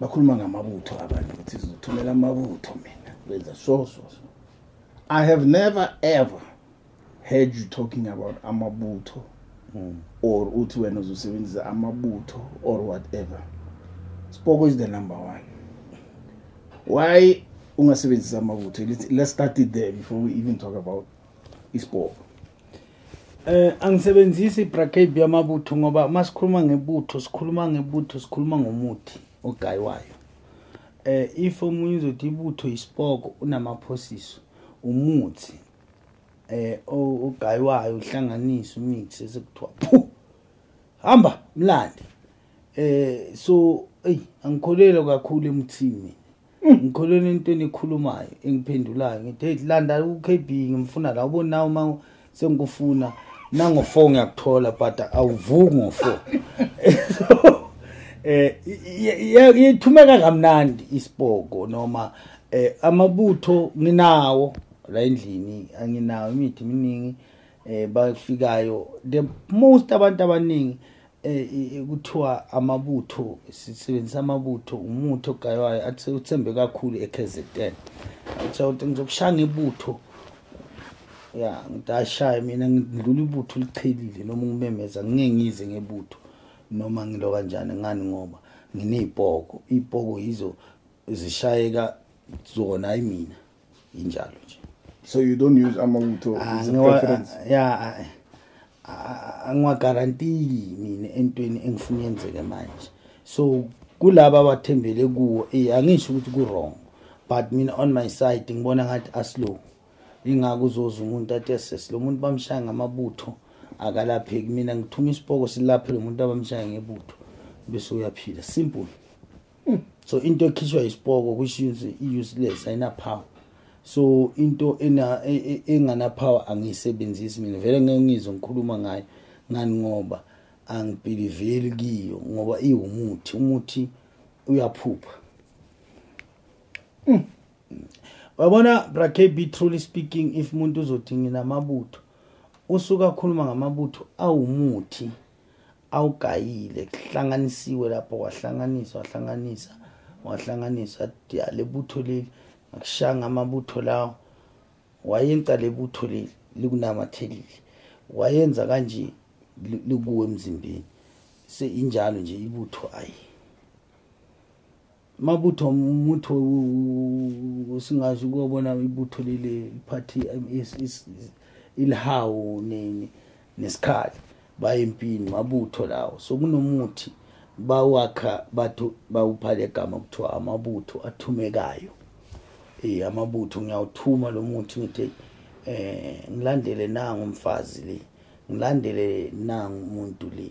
bakhuluma ngamabutho abantu ukuthi sizothumela amabutho mina benza so so so i have never ever heard you talking about amabutho mm. or uthi wena uzosebenzisa amabutho or whatever spoko is the number one why ungasebenzisa amabutho let's start it there before we even talk about ispoko Eh angisebenzisi bracket yamabutho ngoba masikhuluma ngebutho sikhuluma ngebutho sikhuluma ngomuthi ogaywayo. Eh if umuntu uzothi ibutho isipoko unamaphosiso umuthi eh ogaywayo uhlanganisa umix esekuthiwa phu hamba mlandi eh so eyi angikholelwa kakhulu emuthini ngikholweni into enikhulumayo engiphendulayo ngithi hey landa uKB ngimfuna la ubona nawo uma sengikufuna nango 4 ngiyakuthola but awuvuki ngo 4 eh yethumeka kamnandi isiboko noma eh amabutho nginawo la endlini anginawo imithi miningi eh bafikayo the most abantu abaningi eh, kuthiwa amabutho sisebenzisa amabutho umuthi ogaywayo athi uthembe kakhulu eKZN atsha ukuthi ngizokushaya ngebutho ya ngidashaye mina ngidlula ibutho liqhelile noma ngimemeza ngeke ngize ngebutho noma ngilo kanjani ngani ngoba nginezipoko izipoko yizo zishayeka zona ayimina injalo nje so you don't use amawutho ah, ya angiwagarantiki mina entweni engifuna yenzeke manje so kulaba abathembele kuwo eh, angisho ukuthi ku-wrong but mina on my side ngibona ngathi aslow ingako uzoza umuntu athi eses lo muntu bamshaya ngamabutho akalapheki mina ngithuma isipoko silaphe lo muntu abamshaya ngebutho bese uyaphila simple hmm. so into ekhishwa isipoko which is useless ayina power so into ena e, e, engana power angiyisebenzisi mina vele ngeke ngizwe ngikhuluma ngayo ngani ngoba angibhiliveli kiyo ngoba iwumuthi umuthi uyaphupha hmm. wabona brakb truly speaking if umuntu uzothi nginamabutho usuka akhuluma ngamabutho awumuthi awugayile kuhlanganisiwe lapho wahlanganiswa wahlanganisa wahlanganiswa ya lebutho leli ngakushanga amabutho lawo wayenza lebutho leli likunamathelile wayenza kanje likuwe emzimbeni seyinjalo nje ibutho ayi mabutho mutho singazi ukubona ibutho leli party ilihawu nini nesikhali bayempini mabutho lawo so kunomuthi bawakha bathu bawuphala igama kuthiwa amabutho athumekayo eh amabutho ngiyawuthuma lo muthi ngithi eh ngilandele nangu umfazi le ngilandele nangu umuntu le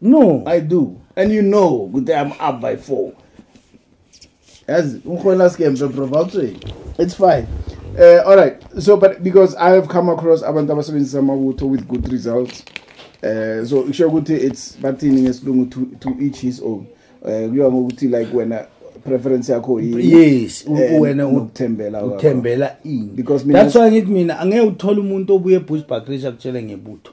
No. I do. And you know that I'm up by four. As It's fine. Uh, all right. So, but because I have come across abantu abasebenzisa amawutho with good results. Uh, so kusho ukuthi it's bathini ngesilungu to, to each his own. Uh, kuyiwa ngokuthi like wena preference yakho yini yes eh, wena uthembela uthembela ini because that's why ngithi mina angeke uthole umuntu obuye eBushbuck Ridge akutshele ngebutho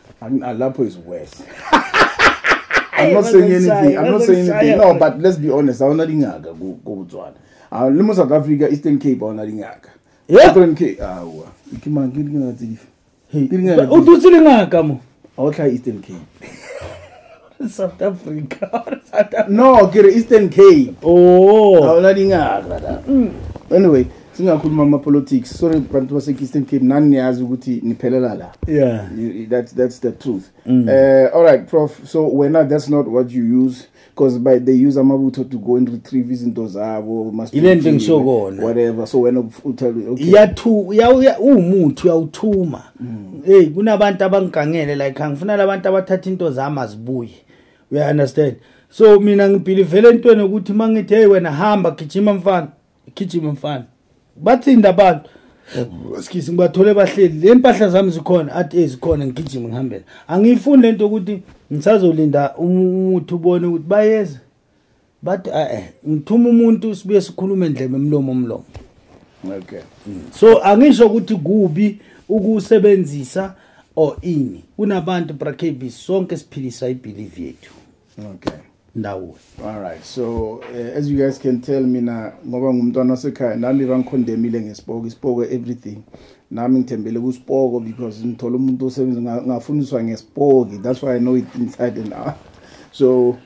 Ah, lapho is worse I'm not saying anything. I'm not saying anything. No, but let's be honest. Awona lingaka ku Botswana. Ah, limo South Africa, Eastern Cape awona lingaka. Yeah. Eastern Cape. Awa. Ikimanga lingaka tsifa. Hey. Lingaka. Udutsile ngaka mo. Awotla Eastern Cape. South Africa. South Africa. No, ke Eastern Cape. Oh. Awula dingaka la. Mm. Anyway, singakhuluma ama politics. Sorry bantu base Eastern Cape nani niyazi ukuthi niphelela la. Yeah. That's that's the truth. Mm. Uh, all right, prof. So when not, that's not what you use because by they use amabutho to go and retrieve izinto zabo must ile nto ngisho kona whatever so wena uthatha okay yathu uwumuthi uyawuthuma mm. hey kunabantu abangigangele like angifuna labantu abathatha into zami azibuye you understand so mina ngibhilivele entweni ukuthi mangithi hey wena hamba gijima mfana gijima mfana bathinda abantu skisi ngibathole bahleli le mpahla zami zikhona athi ezikhona ngigijima ngihambela angiyifuni lento ukuthi ngisazolinda umuthi ubone ukuthi bayeza but eh, eh ngithuma umuntu sibuye sikhulume ndlebe mlomo mlomo okay mm. so angisho ukuthi kubi ukusebenzisa or ini kunabantu brakb sonke siphilisa ibelieve yethu okay ndawo all right so uh, as you guys can tell mina ngoba ngumntwana wasekhaya nami bangikhondemile ngesipoko isipoko everything nami ngithembele kusipoko because ngithola umuntu osebenza ngafundiswa ngesipoki that's why i know it inside and out so